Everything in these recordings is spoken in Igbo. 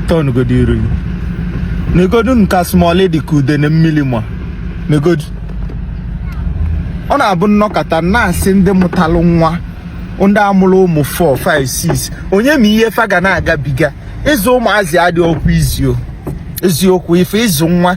tọnụgodo iru gị negodu nka smallie dị ka ude na mmili ma negodu ọ na-abụ nnọkata na-asị ndị mụtalụ nwa ndị amụrụ ụmụ 4 5 6 onye ma ihe fa ga na-agabiga ịzụ ụmụazị adịọkwa easy o eziokwu ife ịzụ nwa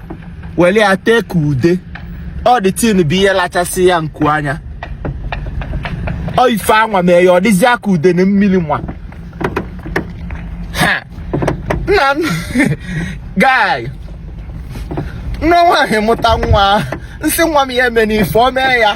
wele ya tee ka ude o the thing bịa lachasị ya nku anya o ife anwa mee ya ọ dịzia ka ude na mmili nwa nna guy nụọ nwaanyị mụta nwa nsị nwa m ya emena ife o mee ya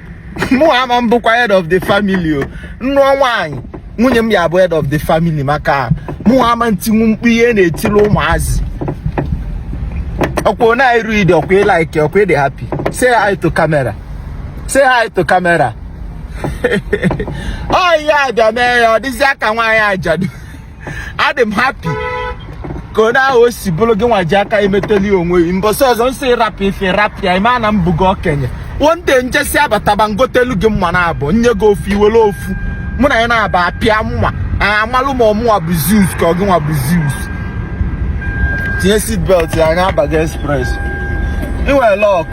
mụ ama m bụkwa head of the family o nnụọ nwaanyị nwunye m ya bụ head of the family maka mụ ama ntinwu mkpu ihe na-etili ụmụazị ọkwa na iru idi ọkwa ịlaiki ọkwa ịdị happy say hi to camera say hi to camera ọ ihe a bịa mee ya ọ dịzịa ka nwaanyị ajadu adị m happy kwa na o si bụlụ gị nwa ji aka emeteli onwe gị mbọsị ọzọ nsị ị rapụ ife rapụ ya ịma na m bụgo okenye one day njesịa bataba ngotelu gị mma naabọ nye gị ofu iwele ofu mụ na ya na-aba apịa mma amalụ ma ọ mụwa bụ zeus ka ọ gị nwa bụ zeus tinye seatbelt ya anyị abaga express inwere luck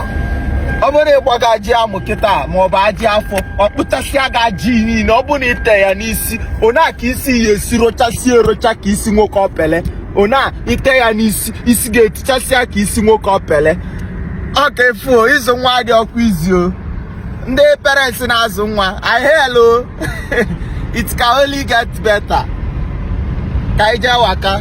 ọ bụrụ ịgbaga ajị amụ kịta ma ọ bụ ajị afọ ọ kpụchasịa gị ajị niile ọ bụ na ite ya n'isi ona ka isi ya esi rochasie erocha ka isi nwoke ọpele ona ite ya n'isi isi ga-etichasịa ka isi nwoke ọpele ọka efuo ịzụ nwa adịọkwa easy o ndị parents na-azụ nwa I hail o it can only get better ka ije waka